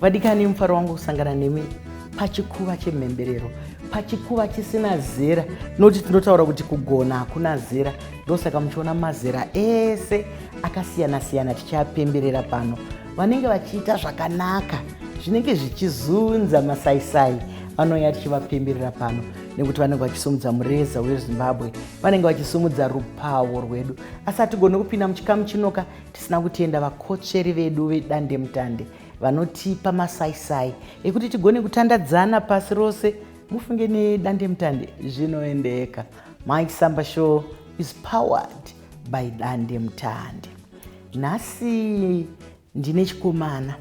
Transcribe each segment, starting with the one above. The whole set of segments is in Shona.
Vadikani, mufaro wangu kusangana nemi pachikuva chemhemberero, pachikuva chisina zera, noti tinotaura kuti kugona hakuna zera. Ndosaka muchiona mazera ese akasiyana siyana tichapemberera pano, vanenge vachiita zvakanaka zvinenge zvichizunza masaisai vanouya tichivapemberera pano nekuti vanenge vachisumudza mureza wezimbabwe vanenge vachisumudza rupawo rwedu asi hatigone kupinda muchikamu chinoka Tisina kutenda vakotsveri vedu vedandemutande vanotipa masaisai ekuti tigone kutandadzana pasi rose. Mufunge nedandemutande zvinoendeka. My Samba Show is powered by dandemutande. Nhasi ndine chikomana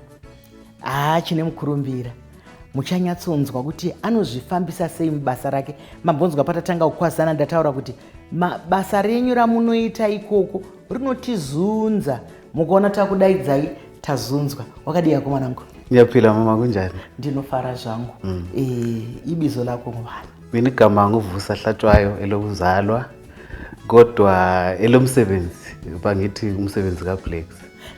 haa chine mukurumbira muchanyatsonzwa kuti anozvifambisa sei mubasa rake mambonzwa patatanga kukwazana ndataura kuti basa renyu ramunoita ikoko rinotizunza mukaona takudaidzai tazunzwa wakadii yako mwanangu ndiyapila mama kunjani ndinofara zvangu mm. e, ibizo lako ngubani mini gama nguvusa hlatshwayo elokuzalwa kodwa elomsebenzi pangithi umsebenzi kablax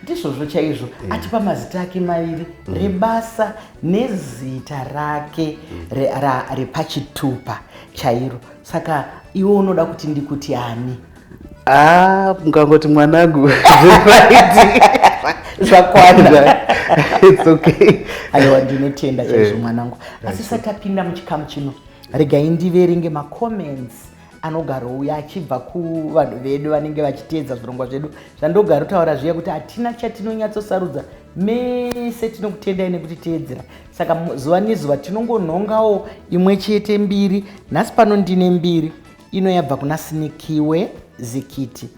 ndizvozvo chaizvo yeah. atipa mazita ake maviri mm. rebasa nezita rake mm. re, repachitupa chairo saka iwe unoda kuti ndikuti ani Ah, mukangoti mwanangu zvakwana it's okay aiwa ndinotenda chaizvo eh, mwanangu asi sati apinda muchikamu chino regai ndiverenge macomments anogarouya achibva kuvanhu vedu vanenge vachiteedza zvirongwa zvedu zvandogara utaura zviya kuti hatina chatinonyatsosarudza mese tinokutendai nekuti teedzera saka zuva nezuva tinongonhongawo imwe chete mbiri nhasi pano ndine mbiri ino yabva kuna sinikiwe zikiti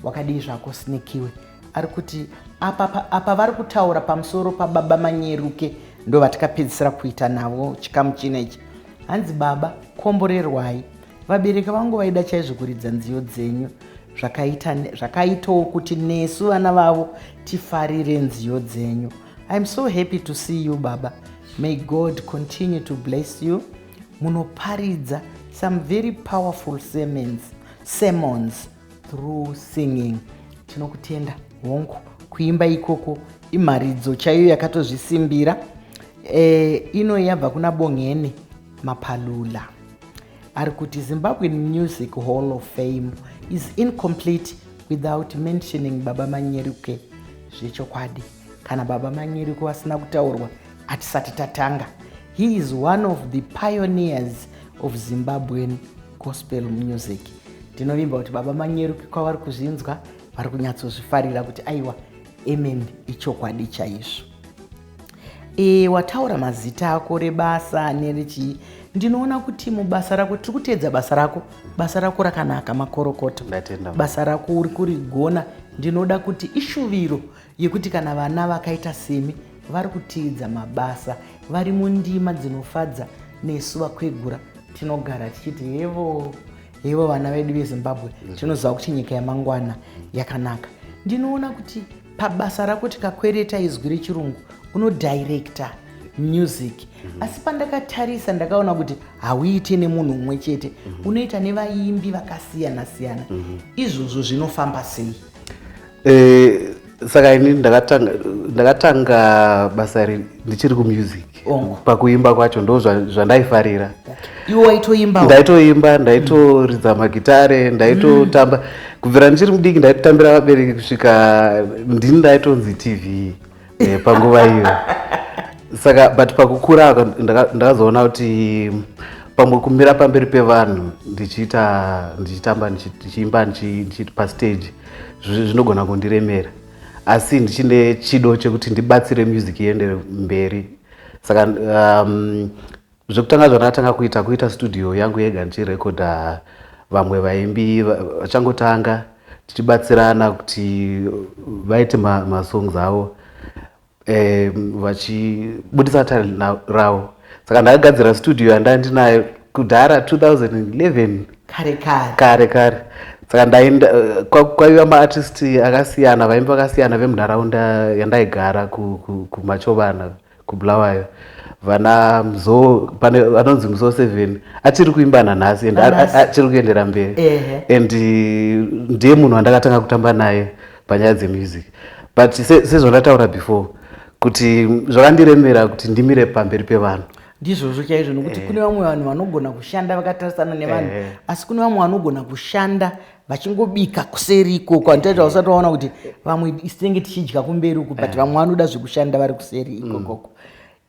wakadii zvako sinikiwe ari kuti apa, apa vari kutaura pamusoro pababa manyeruke ndo vatikapedzisira kuita navo chikamu china ichi hanzi baba komborerwai vabereki vangu vaida chaizvo kuridza nziyo dzenyu zvakaitawo kuti nesu vana vavo tifarire nziyo dzenyu iam so happy to see you baba may god continue to bless you munoparidza some very powerful sermons, sermons through singing tinokutenda hongu kuimba ikoko imharidzo chaiyo yakatozvisimbira e, ino yabva kuna bongeni mapalula ari kuti zimbabwean music hall of fame is incomplete without mentioning baba manyeruke zvechokwadi kana baba manyeruke vasina kutaurwa hatisati tatanga He is one of the pioneers of Zimbabwean gospel music. Tinovimba kuti Baba Manyeru kwavari kuzvinzwa vari kunyatsozvifarira kuti aiwa amen ichokwadi chaizvo. E, wataura mazita ako rebasa nerechii ndinoona kuti mubasa rako tiri kuteedza basa rako basa rako rakanaka makorokoto basa rako uri kurigona ndinoda kuti ishuviro yekuti kana vana vakaita semi vari kutiidza mabasa vari mundima dzinofadza nesu vakwegura tinogara tichiti hevo hevo vana vedu vezimbabwe mhm. tinoziva kuti nyika yamangwana yakanaka ndinoona kuti pabasa rako tikakwereta izwi rechirungu unodirecta music mhm. asi pandakatarisa ndakaona kuti hauite nemunhu umwe chete mhm. unoita nevaimbi vakasiyana siyana izvozvo zvinofamba sei Eh, saka ini ndakatanga ndakatanga basa iri ndichiri kumusic Ongo. pakuimba kwacho ndo zva- zvandaifarira iwe waitoimba ndaitoimba ndaitoridza magitare ndaitotamba kubvira ndichiri mudiki ndaitotambira vabereki kusvika ndini ndaitonzi tv eh, panguva iyo saka but pakukura ndakazoona kuti pamwe kumira pamberi pevanhu ndichiita ndichitamba ndichiimba ndichiita pastage zvinogona kundiremera asi ndichine chido chekuti ndibatsire music iendere mberi saka um, Zvekutanga zvandakatanga kuita kuita studio yangu yega ndichirekodha vamwe vaimbi vachangotanga tichibatsirana kuti vaite masongs ma avo eh, vachibudisa talent ravo saka ndakagadzira studio yanda ndinayo kudhara 2011 kare kare kare kare saka ndaenda eh, kwaiva maartist akasiyana vaimbi vakasiyana vemunharaunda yandaigara kumachovana ku, ku kubulawayo vana mzo pane vanonzi mzo seven achiri kuimba nanhasi and achiri kuendera mberi and ndiye munhu wandakatanga kutamba naye panyaya dzemusic but sezvandataura se before kuti zvakandiremera kuti ndimire pamberi pevanhu ndizvozvo chaizvo nokuti eh. kune vamwe vanhu vanogona kushanda vakatarisana nevanhu eh. asi kune vamwe vanogona kushanda vachingobika kuseri ikoko anditaita usati waona kuti vamwe tinenge tichidya kumberi uku but eh. vamwe vanoda zvekushanda vari kuseri ikokoko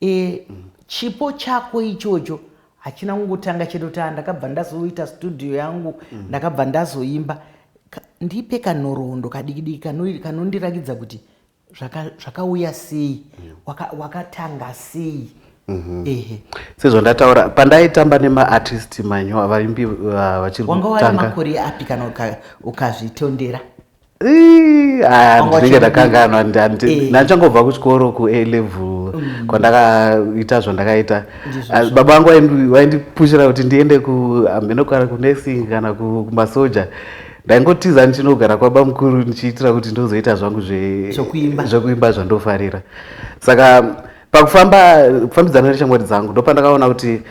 mm. e, chipo chako ichocho hachina kungotanga chete kuti ah, ndakabva ndazoita studio yangu mm. ndakabva ndazoimba ndipe kanhoroondo kadikidiki kanondirakidza kuti zvakauya zvaka sei wakatanga waka sei mhm. ehe sezvandataura pandaitamba nemaartist manyo vaimbi uh, vachiri wanga wari makore api kana ukazvitondera ndinenge ndakanganwa eh. ndachangobva kuchikoro kua level mm. kwandakaita zvandakaita ah, baba vangu vaindipushira kuti ndiende kuameno ah, kana kunursing kana kumasoja ku ndaingotiza ndichinogara kwaba mukuru ndichiitira kuti ndozoita zvangu zvekuimba zvandofarira saka pakufamba kufambidzana neshamwari dzangu ndopandakaona kuti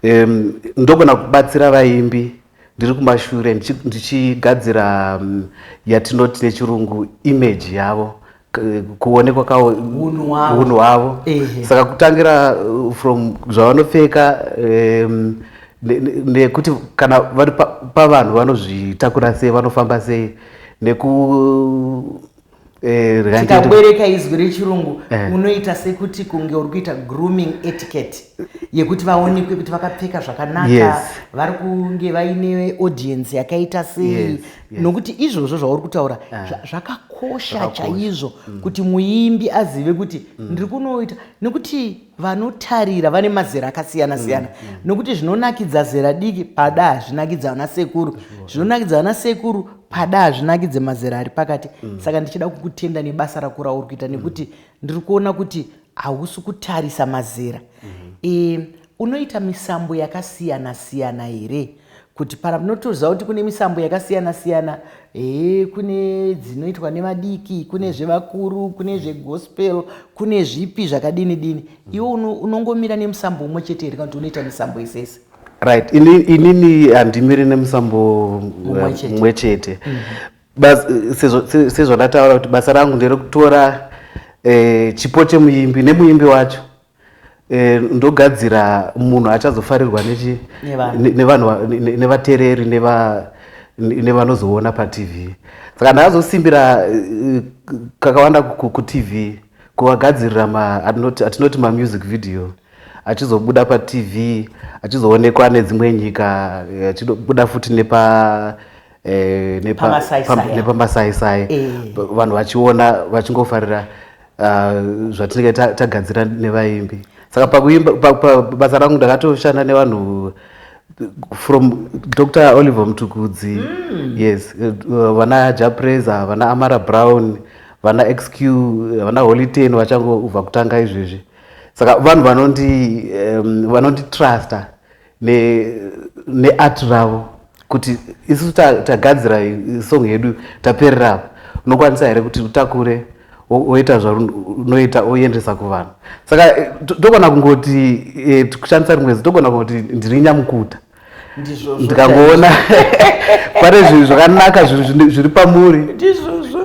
um, ndogona kubatsira vaimbi ndiri kumashure ndichigadzira um, yatinoti nechirungu image yavo kuonekwa kawo unhu hwavo saka kutangira uh, from zvavanopfeka um, nekuti ne, ne, kana vari pavanhu pa vanozvitakura sei vanofamba sei neku eh, tikabwereka izwi rechirungu eh. unoita sekuti kunge uri kuita grooming etiquette yekuti vaonekwe kuti vakapfeka zvakanaka yes. vari kunge vaine audience yakaita sei yes. yes. nokuti izvozvo zvauri kutaura ah. zvakakosha chaizvo mm. kuti muimbi azive kuti mm. ndiri kunoita nekuti vanotarira vane mazera akasiyana mm, siyana mm. nokuti zvinonakidza zera diki pada hazvinakidza vana sekuru zvinonakidza vana sekuru pada hazvinakidze mazera ari pakati mm. saka ndichida kukutenda nebasa rako rauri kuita mm. nekuti mm. ndiri kuona kuti hausi kutarisa mazera mm -hmm. e, Unoita misambo yakasiyana siyana here kuti para munotoziva kuti kune misambo yakasiyana siyana hee kune dzinoitwa nevadiki kune zvevakuru kune zvegospel kune zvipi zvakadini dini iwe unongomira nemusambo umwe chete here kana kuti unoita misambo yese yese right inini handimiri nemusambo umwe chete mm -hmm sezvandataura kuti basa rangu nderekutora eh, chipo chemuimbi nemuimbi wacho Eh, ndogadzira munhu achazofarirwa nevatereri nevanozoona patv saka ndaazosimbira eh, kakawanda kutv kuvagadzirira atinoti mamusic video achizobuda patv achizoonekwa nedzimwe nyika eh, achibuda futi nepa nepamasaisai vanhu vachiona vachingofarira Ah, zvatinenge tagadzira nevaimbi saka pakuimba basa rangu ndakatoshanda nevanhu from dr oliver mutukudzi mm. yes eh, vana japresa vana amara brown vana xq vana holiten vachangobva kutanga izvezvi saka vanhu vanondi um, vanonditrusta neart ne ravo kuti isu tagadzira ta song yedu taperera apa unokwanisa here kuti utakure woita zvaunoita oendesa kuvanhu saka eh, togona kungoti eh, kushandisa rimwe zi togona kungoti ndiri nyamukuta ndikangoona pane zvinhu zvakanaka zviri pamuri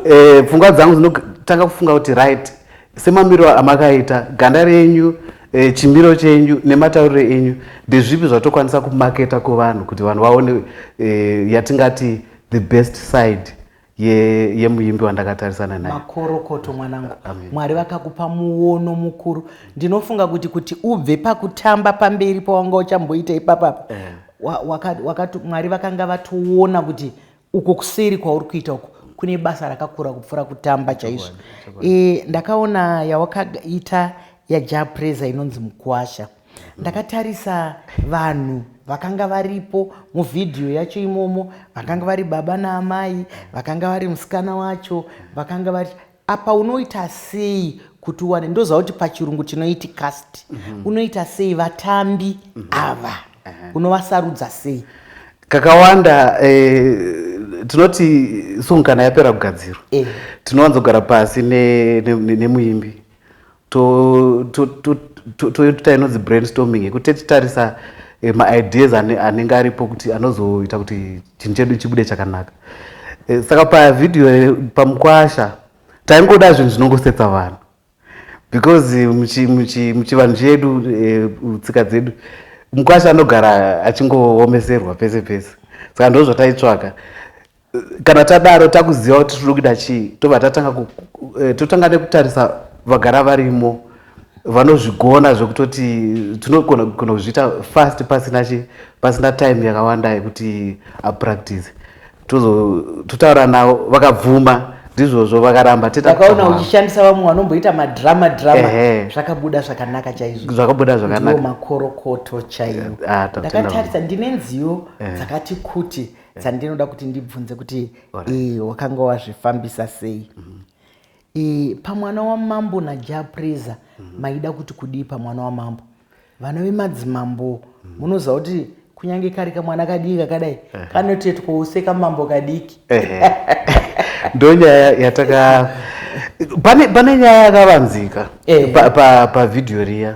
eh, pfungwa dzangu dzinotanga kufunga kuti right Semamiro amakaita ganda renyu e, chimiro chenyu nematauriro enyu ndezvipi zvatokwanisa kumaketa kuvanhu kuti vanhu vaone e, yatingati the best side yemuimbi ye wandakatarisana naye makorokoto mwanangu mwari vakakupa muono mukuru ndinofunga kuti kuti ubve pakutamba pamberi pawanga uchamboita ipapapa eh. wakati mwari vakanga vatoona kuti uko kuseri kwauri kuita uko kune basa rakakura kupfuura kutamba chaizvo e, ndakaona yawakaita yajapreza inonzi mukwasha mhm. ndakatarisa vanhu vakanga varipo muvhidhiyo yacho imomo vakanga vari baba naamai vakanga vari musikana wacho vakanga vari Apa unoita sei kuti uwane ndoziva kuti pachirungu tinoiti cast mm -hmm. unoita sei vatambi mm -hmm. ava uh -huh. unovasarudza sei kakawanda eh, tinoti song kana yapera kugadzirwa eh. tinowanzogara pasi nemuimbi ne, ne, ne toita inonzi brainstorming yekuti titarisa eh, maideas anenge aripo kuti anozoita kuti chinhu chedu chibude chakanaka eh, saka pavhidhiyo eh, pamukwasha taingoda zvinhu zvinongosetsa vanhu because muchivanhu chedu tsika dzedu mukwasha anogara achingoomeserwa pese pese saka ndozvataitsvaka kana tadaro takuziva kuti tiri kuita chii tobva tatanga eh, totanga nekutarisa vagara varimo vanozvigona zvekutoti tinogona kuzviita fast pasina chi pasina time yakawanda yekuti apractice totaura navo vakabvuma ndizvozvo vakaramba takaona uchishandisa vamwe vanomboita madrama drama zvakabuda zvakanaka chaizvo zvakabuda zvakanaka makorokoto chaiwo ah, ndakatarisa ndine nziyo dzakati kuti dzandinoda kuti ndibvunze kuti wakanga wazvifambisa sei mhm. pamwana wamambo najapreza mhm. maida kuti kudii pamwana wamambo vana vemadzimambo mhm. munoziva kuti kunyange kari kamwana kadiki kakadai kanotetwa use kamambo kadiki ndonyaya yataka pane nyaya yakavanzika pavhidhiyo riya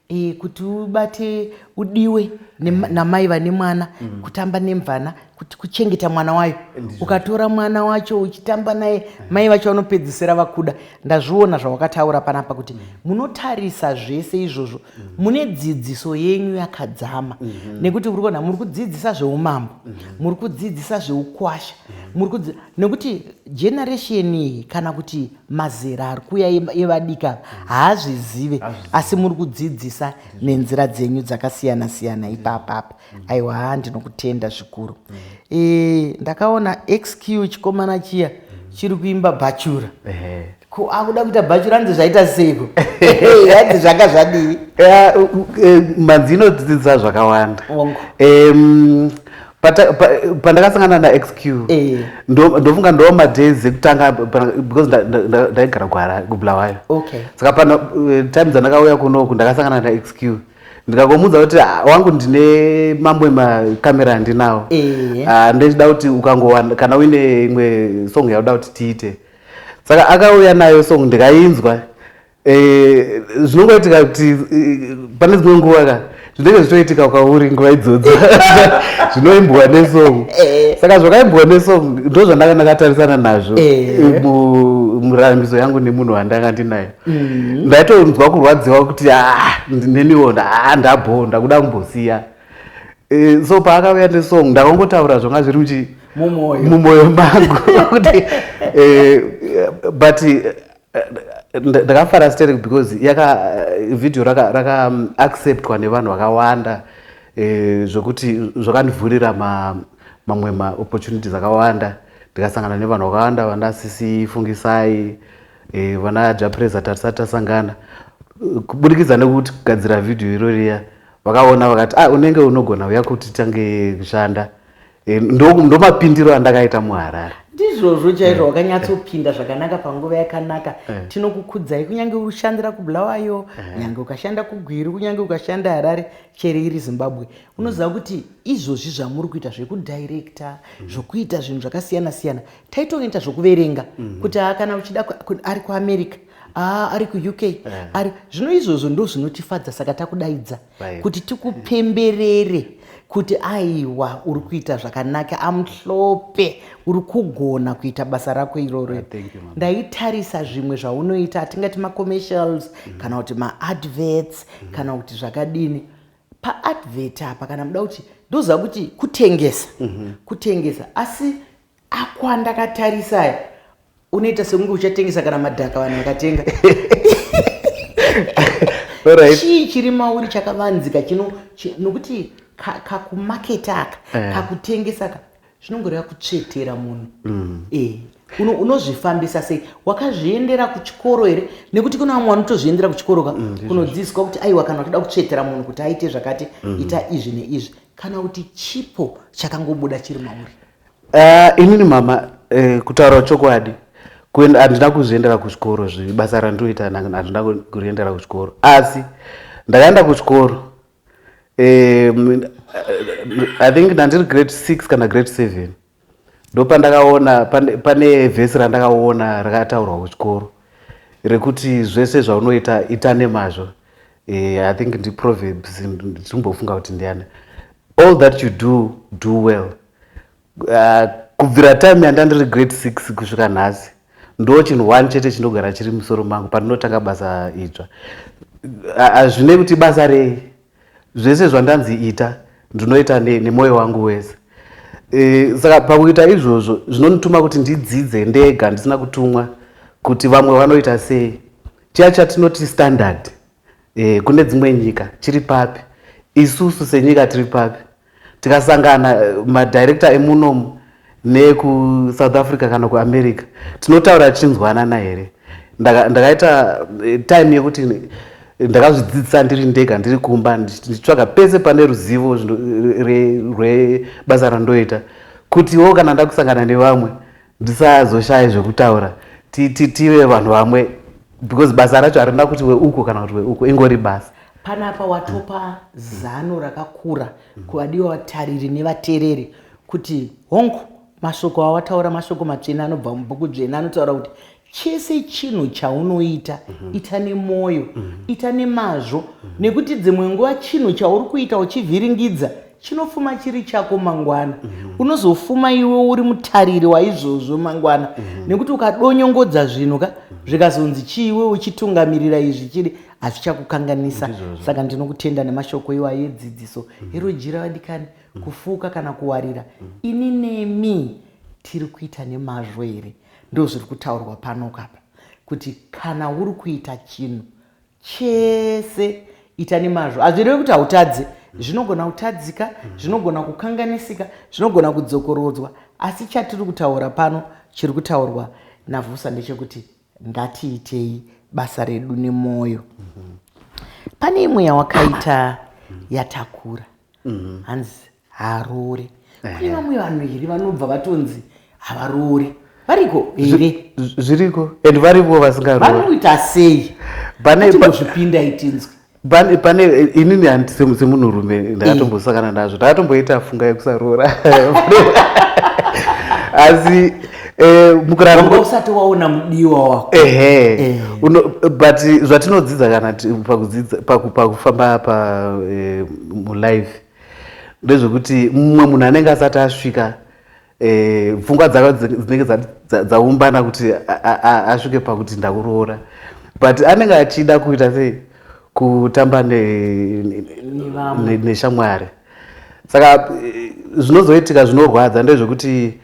Eh, kuti ubate udiwe mm. namai vane mwana mm. kutamba nemvana kuti kuchengeta mwana wayo ukatora mwana wacho uchitamba naye mm. mai vacho vanopedzisira vakuda ndazviona zvawakataura panapa kuti mm. munotarisa zvese izvozvo mm. mune dzidziso yenyu yakadzama mm -hmm. nekuti uri kuona muri kudzidzisa zveumambo mm -hmm. muri kudzidzisa zveukwasha mm -hmm. muri kudzi nekuti generation iyi kana kuti mazera ari kuuya evadiki ava haazvizive asi muri kudzidzisa nenzira dzenyu dzakasiyana siyana ipapa apa aiwa haa ndinokutenda zvikuru e, ndakaona xq chikomana chiya chiri kuimba bhachura ko akuda kuita bhachura hanzi zvaita seiko hanzi zvanga zvadii e, manzi inodzidza zvakawanda pandakasangana naxq eh. ndofunga ndoo madays ekutanga because ndaigara kuhara kubulawayo saka pano eh, time dzandakauya kunoku ndakasangana naxq ndikakomuudza kuti ah, wangu ndine mamwe makamera andinawo eh. ah, ndechida kuti ukangowana kana uine imwe song yauda kuti tiite saka akauya nayo song ndikainzwa Eh, zvinongoitika kuti eh, pane dzimwe nguva ka zvinenge zvichitoitika kwauri nguva idzodzo zvinoimbwa nesong eh. saka zvakaimbwa nesong ndo zvandanga ndakatarisana nazvo murambiso yangu nemunhu wandanga ndinayo mm. ndaitonzwa kurwadziwa kuti ah, neniwo ah, ndabho ndakuda kumbosiya so paakauya nesong ndakangotaura zvanga zviri muchi mumwoyo mangu kuti but ndakafara sterek because yaka video raka, raka um, acceptwa nevanhu vakawanda eh, zvekuti zvakandivhurira mamwe ma, maopportunities akawanda ndikasangana nevanhu vakawanda vana sisi fungisai eh, vana japresa tatisati tasangana kuburikidza nekuti kugadzira video iroriya vakaona vakati ah, unenge unogona uya kuti tange kushanda Eh, ndomapindiro andakaita muharare ndizvozvo chaizvo eh. wakanyatsopinda zvakanaka panguva yakanaka eh. tinokukudzai kunyange ushandira kubulawayo nyange ukashanda kugwiri kunyange ukashanda harare chere iri zimbabwe unoziva kuti izvozvi zvamuri kuita zvekudirecta mm. zvokuita zvinhu zvakasiyana siyana taitoita zvokuverenga mm. kuti ah, kana uchida ari kuamerica ah, ari kuuk ari zvino izvozvo ndozvinotifadza saka takudaidza kuti tikupemberere kuti aiwa uri kuita zvakanaka amuhlope uri kugona kuita basa rako iroro ah, ndaitarisa zvimwe zvaunoita hatingati macommercials mm. kana kuti maadverts mm. kana kuti zvakadini paadvert apa kana muda kuti ndoziva kuti kutengesa mm -hmm. kutengesa asi Ako andakatarisa aya unoita sekunge uchatengesa kana madhaka vanhu vakatenga chii chiri mauri chakavanzika chino nokuti kakumaketa aka eh. kakutengesa ka zvinongoreva kutsvetera munhu mm. eh, unozvifambisa sei wakazviendera kuchikoro here nekuti kune vamwe vanotozviendera kuchikoro ka mm, kunodzidziswa kuti aiwa kana utoda kutsvetera munhu kuti aite zvakati mm. ita izvi neizvi kana kuti chipo chakangobuda chiri mauri Uh, inini mama uh, kutaura chokwadi handina kuzviendera kuchikoro zve basa randoita handina kuriendera kuchikoro asi ndakaenda kuchikoro um, i think ndandiri grade six kana grade seven ndopandakaona pane, pane vhesi randakaona rakataurwa kuchikoro rekuti zvese zvaunoita ita nemazvo Eh, I think ndi proverbs ndichimbofunga kuti ndiani all that you do do well uh, kubvira time yanda ndiri grade six kusvika nhasi ndo chinhu one chete chinogara chiri musoro mangu pandinotanga basa idzva hazvine uh, kuti basa rei zvese zvandanzi ita ndinoita nemwoyo ne wangu wese e, saka pakuita izvozvo zvinondituma kuti ndidzidze ndega ndisina kutumwa kuti vamwe vanoita sei Chiya chatinoti standard eh, kune dzimwe nyika chiri papi isusu senyika tiri papi tikasangana eh, madirekta emunomu nekusouth africa kana kuamerica tinotaura tichinzwanana here ndakaita eh, time yekuti ndakazvidzidzisa ndiri ndega ndiri kumba ndichitsvaga pese pane ruzivo rwebasa randoita kutiwo kana ndakusangana nevamwe ndisazoshaya zvekutaura tive vanhu vamwe because basa racho harina kuti weuko kana kuti weuko ingori basa panapa watopa zano rakakura kuvadiwa vatariri nevatereri kuti hongu mashoko awataura mashoko matsvene anobva mubhuku dzvene anotaura kuti chese chinhu chaunoita mm -hmm. ita nemwoyo mm -hmm. ita nemazvo mm -hmm. nekuti dzimwe nguva chinhu chauri kuita uchivhiringidza chinofuma chiri chako mangwana mm -hmm. unozofuma iwe uri mutariri waizvozvo mangwana mm -hmm. nekuti ukadonyongodza zvinhu ka mhm. zvikazonzi chii iwe uchitungamirira izvi chiri hazvichakukanganisa saka ndinokutenda nemashoko iwa yedzidziso mm -hmm. erojira vadikani mm -hmm. kufuka kana kuwarira mm -hmm. ini nemi tiri kuita nemazvo here Ndozviri kutaurwa pano kapa kuti kana uri kuita chinhu chese ita nemazvo hazvirevi kuti hautadze zvinogona kutadzika zvinogona kukanganisika zvinogona kudzokorodzwa asi chatiri kutaura pano chiri kutaurwa navhusa ndechekuti ngatiitei basa redu nemwoyo pane imwe yawakaita yatakura hanzi haaroore kune vamwe vanhu here vanobva vatonzi havaroore variko here zviriko and varivo vasingaroore vanoita sei vanombozvipinda itinzwi pane pane inini semunhurume ndakatombosakana eh. nazvo ndakatomboita funga yekusaroora asi eh, mukurarausati waona mudiwa wako ehe eh. but zvatinodzidza kana pakufamba pa eh, mulife ndezvekuti mumwe munhu anenge asati asvika eh, pfungwa dzaka dzinenge dzaumbana kuti asvike pakuti ndakuroora but anenge achida kuita sei kutamba neshamwari saka eh, zvinozoitika zvinorwadza ndezvekuti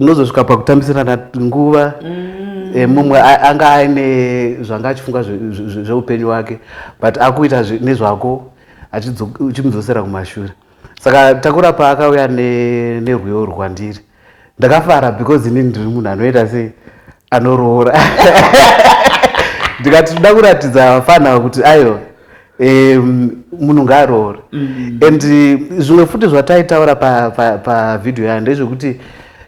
unozosvika pakutambisirana nguva mm. eh, mumwe anga aine zvanga achifunga zveupenyu wake but akuita nezvako achimudzosera kumashure saka takura paakauya nerwiyo rwandiri ndakafara because ini ndiri munhu anoita sei anoroora ndikati tinoda kuratidza vafana ava kuti aiwa munhu ngaaroore mm. and zvimwe futi zvataitaura pavhidhiyo yayo ndezvekuti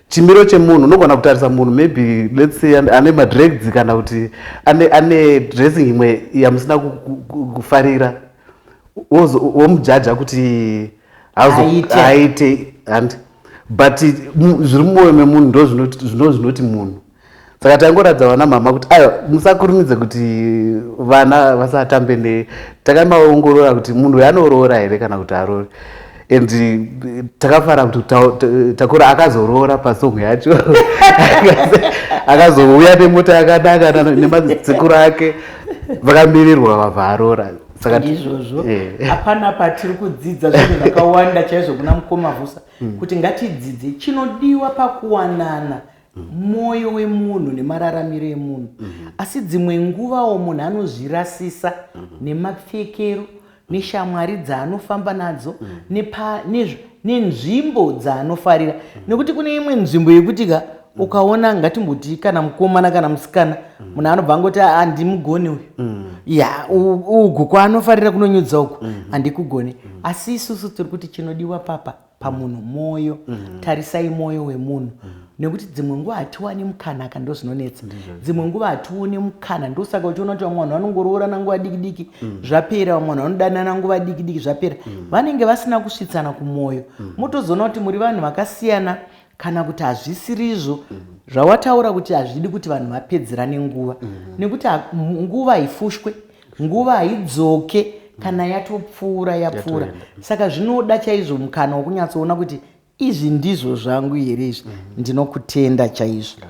chimiro chemunhu unogona kutarisa munhu maybe let's say ane madregs kana kuti ane, ane dressing imwe yamusina kufarira womujaja kuti aite handi but zviri mumwoyo memunhu ndo zvinoti munhu saka taingoratidza vana mama kuti aiwa musakurumidze kuti vana vasatambe ne takaimaongorora kuti munhu uyo anoroora here kana kuti arori and eh, takafara kuti takura akazoroora pasong yacho akazouya nemota yakanaka nemadzikuru ake vakamirirwa vabva arora ndizvozvo eh. hapana patiri kudzidza zvinhu zvakawanda chaizvo kuna mukoma vusa hmm. kuti ngatidzidze chinodiwa pakuwanana mwoyo wemunhu nemararamiro emunhu mhm. asi dzimwe nguvawo munhu anozvirasisa mhm. nemapfekero neshamwari dzaanofamba nadzo mhm. nenzvimbo dzaanofarira nekuti kune imwe nzvimbo yekuti ka ukaona ngatimboti kana mukomana kana musikana munhu anobva angoti handimugoni uyu ya ugu kwaanofarira kunonyudza uku handikugoni asi isusu tiri kuti chinodiwa papa pamunhu mm. mwoyo mm -hmm. tarisai mwoyo wemunhu mm -hmm nekuti dzimwe nguva hatiwani mukana ka ndozvinonetsa dzimwe nguva hatione mukana ndosaka uchiona kuti vamwe vanhu vanongoroorana nguva diki diki mm. zvapera vamwe vanhu vanodanana nguva diki diki zvapera mm. vanenge vasina kusvitsana kumwoyo mm. motozoona kuti muri vanhu vakasiyana kana kuti hazvisirizvo zvawataura kuti hazvidi kuti vanhu vapedzerane nguva nekuti nguva haifushwe nguva haidzoke kana yatopfuura yapfuura saka zvinoda chaizvo mukana wokunyatsoona kuti izvi ndizvo zvangu here izvi ndinokutenda chaizvo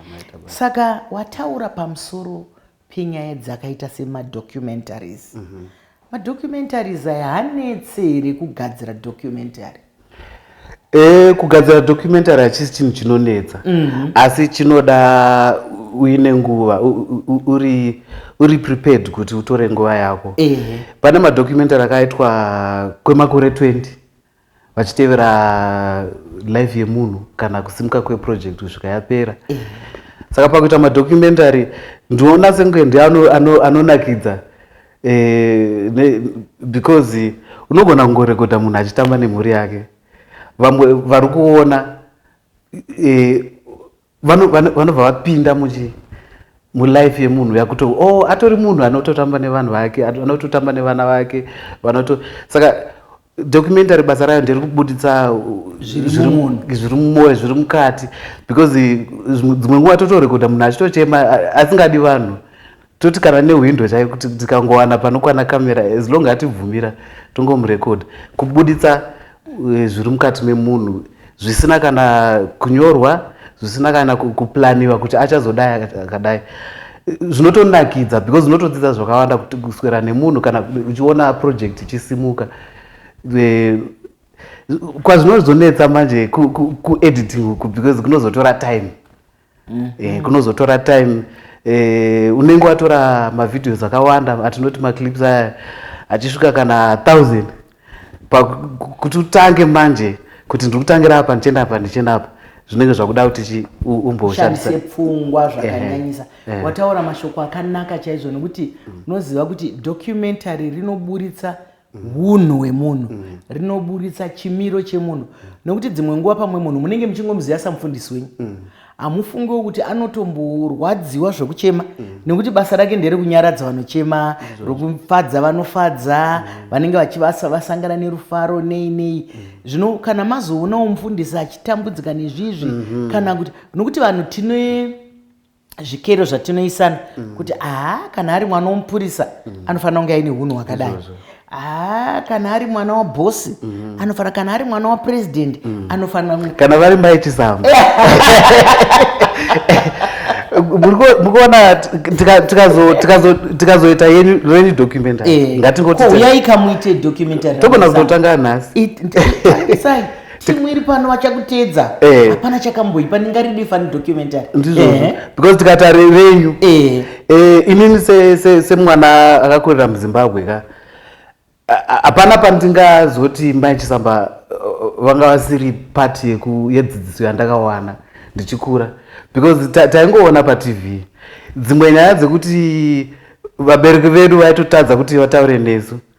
saka wataura pamusoro penyaya dzakaita semadocumentaries mm -hmm. madocumentaries aya hanetse here kugadzira documentary e, kugadzira documentary hachisi chinhu chinonetsa mm -hmm. asi chinoda uine nguva uri uri prepared kuti utore nguva yako e. pane madocumentary akaitwa kwemakore 20 vachitevera life yemunhu kana kusimuka kweproject kusvika yapera eh. saka pakuita madocumentary ndinoona senge ndi anonakidza ano, ano eh, ne, because unogona kungorekodha munhu achitamba nemhuri yake vamwe vari kuona eh, vanobva vapinda muchi mulife yemunhu yakuto o oh, atori munhu anototamba nevanhu vake anototamba nevana vake vanoto saka documentary basa rayo ndiri kubuditsa uh, zviri mumoyo zviri mukati because uh, dzimwe nguva totorekodha munhu achitochema asingadi vanhu toti kana nehwindo chayo kuti dzikangowana panokwana kamera as long atibvumira tongomurekodha kubuditsa eh, zviri mukati memunhu zvisina kana kunyorwa zvisina kana kuplaniwa kuti achazodai akadai zvinotonakidza because unotodzidza zvakawanda kuti kuswera nemunhu kana uchiona project ichisimuka eh, kwazvinozonetsa manje kuediting uku because kunozotora time mm -hmm. e, kunozotora time e, unenge watora mavideos akawanda atinoti maclips aya achisvika kana thousand kuti utange manje kuti ndiri kutangira apa ndichienda apa ndichienda apa zvinenge zvakuda kuti umboshandise pfungwa zvakanyanyisa wataura mashoko akanaka chaizvo nekuti unoziva kuti documentary rinoburitsa hunhu hwemunhu mm. rinoburitsa chimiro chemunhu nokuti dzimwe nguva pamwe munhu munenge muchingomuziva samufundisi wenyu mm. hamufungiwo kuti anotomborwadziwa zvekuchema mm. nekuti basa rake nderekunyaradza vanochema rokufadza vanofadza vanenge vachivasa vasangana nerufaro nei nei zvino kana mazoonawo mufundisi achitambudzika nezvizvi mm-hmm. kana kuti nokuti vanhu tine zvikero zvatinoisana mm. kuti aa kana ari mwana womupurisa mm. anofanira kunge aine hunhu hwakadai aa kana ari mwana wabhosi mm. anofanira kana ari mwana wapurezidendi mm. anofanira kana vari maitisamba mukuona tikazoita reni documentarytogona eh, kutotanga nhasi timu iri pano vachakuteedza eh. hapana chakamboipa ndingaridi fani documentary ndizvo eh. because tikata revenyu eh. inini semwana akakurira muzimbabwe ka hapana pandingazoti mai chisamba vanga vasiri pati yedzidziso yandakawana ndichikura because taingoona patv dzimwe nyaya dzekuti vabereki vedu vaitotadza kuti vataure nesu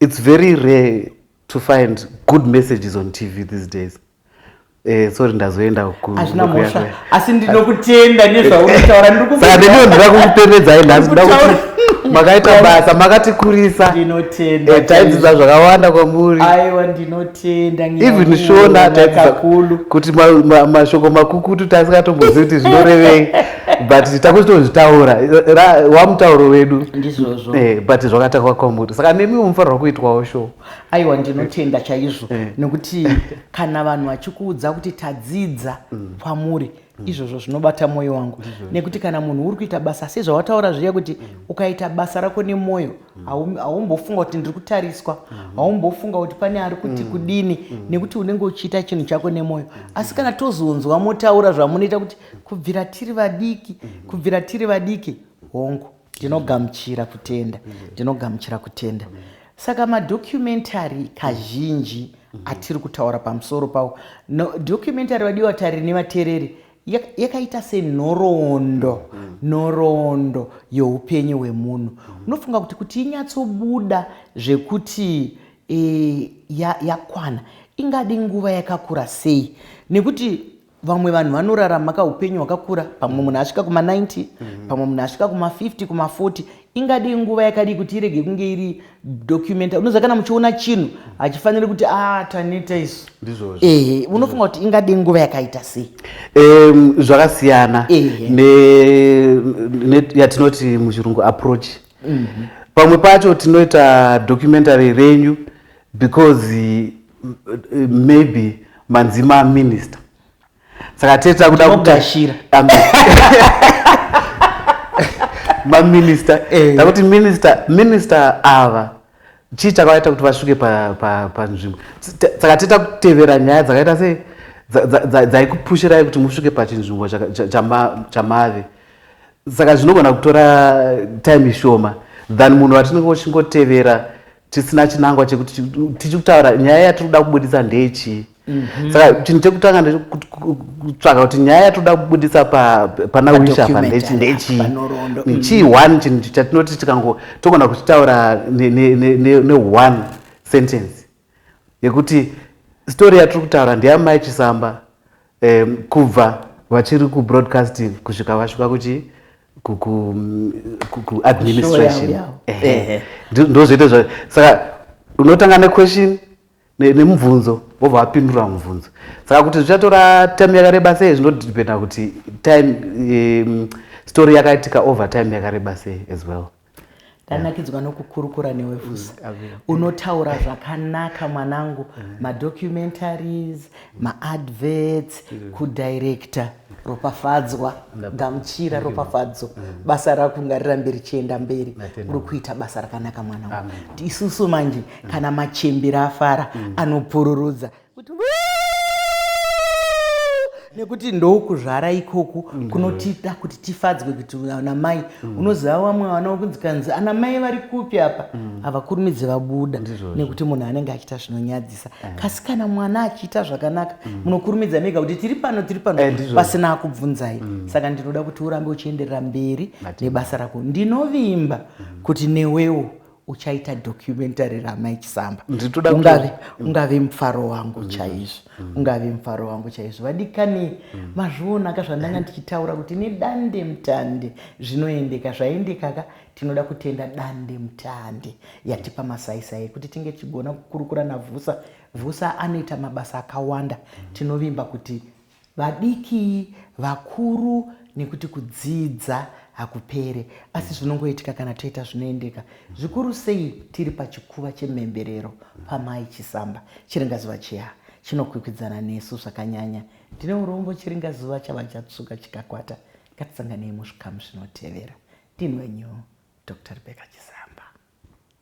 It's very rare to find good messages on TV these days. Eh, sorry ndazoenda hazvina mhosva asi ndinokutenda nezvaunotaura ndikudaniwo ndira kukupembedzai nhasi nda kuti makaita basa makatikurisa ndinotenda eh, taidzidza zvakawanda kwamuri aiwa ndinotenda even shona taidzidza kuti mashoko makukutu taisikatombozivi kuti zvinorevei but takuzotozvitaura wamutauro wedu ndizvozvo eh, but zvakatakwa kwamuri saka nemi munofanirwa kuitwawo sho aiwa ndinotenda chaizvo eh. nekuti kana vanhu vachikuudza kuti tadzidza mm. kwamuri mm. izvozvo zvinobata mwoyo wangu nekuti kana munhu uri kuita basa sezvawataura zviya kuti mm. ukaita basa rako nemwoyo haumbofunga kuti ndiri kutariswa mm-hmm. haumbofunga kuti pane ari kuti kudini nekuti unenge uchiita chinhu chako nemwoyo asi kana tozonzwa motaura zvamunoita kuti kubvira tiri vadiki kubvira tiri vadiki hongu ndinogamuchira kutenda ndinogamuchira kutenda saka madocumentary kazhinji atiri kutaura pamusoro pawo no, documentary vadiwa tariri nevatereri yakaita senhoroondo nhoroondo youpenyu hwemunhu unofunga kuti kuti inyatsobuda zvekuti e, yakwana ya ingadi nguva yakakura sei nekuti vamwe vanhu vanorarama ka upenyu hwakakura pamwe munhu asvika kuma 90 mhm. pamwe munhu asvika kuma 50 kuma 40 ingadii nguva yakadii kuti irege kunge iri documenta unoziva kana muchiona chinhu hachifaniri kuti ah taneta isu ehe unofunga kuti ingadii nguva yakaita sei zvakasiyana yatinoti muchirungu approach mhm. pamwe pacho tinoita documentary renyu because maybe manzi maminister saka tete takuda kugashira maminister eh. takuti minister minister ava chii chakaita kuti vasvike panzvimbo saka tete takutevera nyaya dzakaita sei dzaikupushirai kuti musvike pachinzvimbo chamave saka zvinogona kutora time shoma than munhu vatinenge uchingotevera tisina chinangwa chekuti tichiri kutaura nyaya yatiri kuda kubudisa ndeyechii mhm. saka chinhu chekutanga ndekutsvaga kuti nyaya yatiri kuda kubudisa pana wisha apa ndeyechii mhm. chii one chinhu chatinoti tikango togona kuchitaura neone sentence yekuti story yatiri kutaura ndeyamai chisamba kubva vachiri kubroadcasting kusvika vasvika kuchii kuadministration ndozvoita zva saka unotanga nequestion nemubvunzo vobva vapindura mubvunzo saka kuti zvichatora time yakareba sei zvinodependa kuti time um, story yakaitika over time yakareba sei as well ndanakidzwa nokukurukura newe fusi unotaura zvakanaka mwanangu madocumentaries maadverts kudirector ropafadzwa gamuchira ropafadzo basa rako ngarirambe richienda mberi uri kuita basa rakanaka mwanangu isusu manje kana machembera afara anopururudza kuti nekuti ndokuzvara ikoku kunotida kuti tifadzwe kuti ana mai mm. unoziva wamwe vana wekunzi kanzi ana mai vari kupi apa mm. havakurumidzi vabuda nekuti munhu anenge achiita zvinonyadzisa eh. kasi kana mwana achiita zvakanaka mm. munokurumidza mega kuti tiri pano tiri pano eh, pasina akubvunzai saka ndinoda kuti urambe uchienderera mberi nebasa rako ndinovimba kuti newewo uchaita documentary ramai chisamba ungave, mm. ungave mufaro wangu mm. chaizvo mm. ungave mufaro wangu chaizvo vadikani mm. mazvionaka zvandanga ndichitaura kuti nedande mutande zvinoendeka zvaendekaka tinoda kutenda dande mutande yatipa masaisai ekuti tinge tichigona kukurukura navhusa vhusa anoita mabasa akawanda mm. tinovimba kuti vadiki, vakuru nekuti kudzidza hakupere asi zvinongoitika kana toita zvinoendeka zvikuru sei tiri pachikuva chemhemberero pamai Chisamba. Chiringazuva chiya chinokwikwidzana nesu zvakanyanya. Ndine urombo chiringazuva chava chatsvuka chikakwata. Ngatisanganei muzvikamu zvinotevera. Ndini wenyu Doctor Rebecca Chisamba.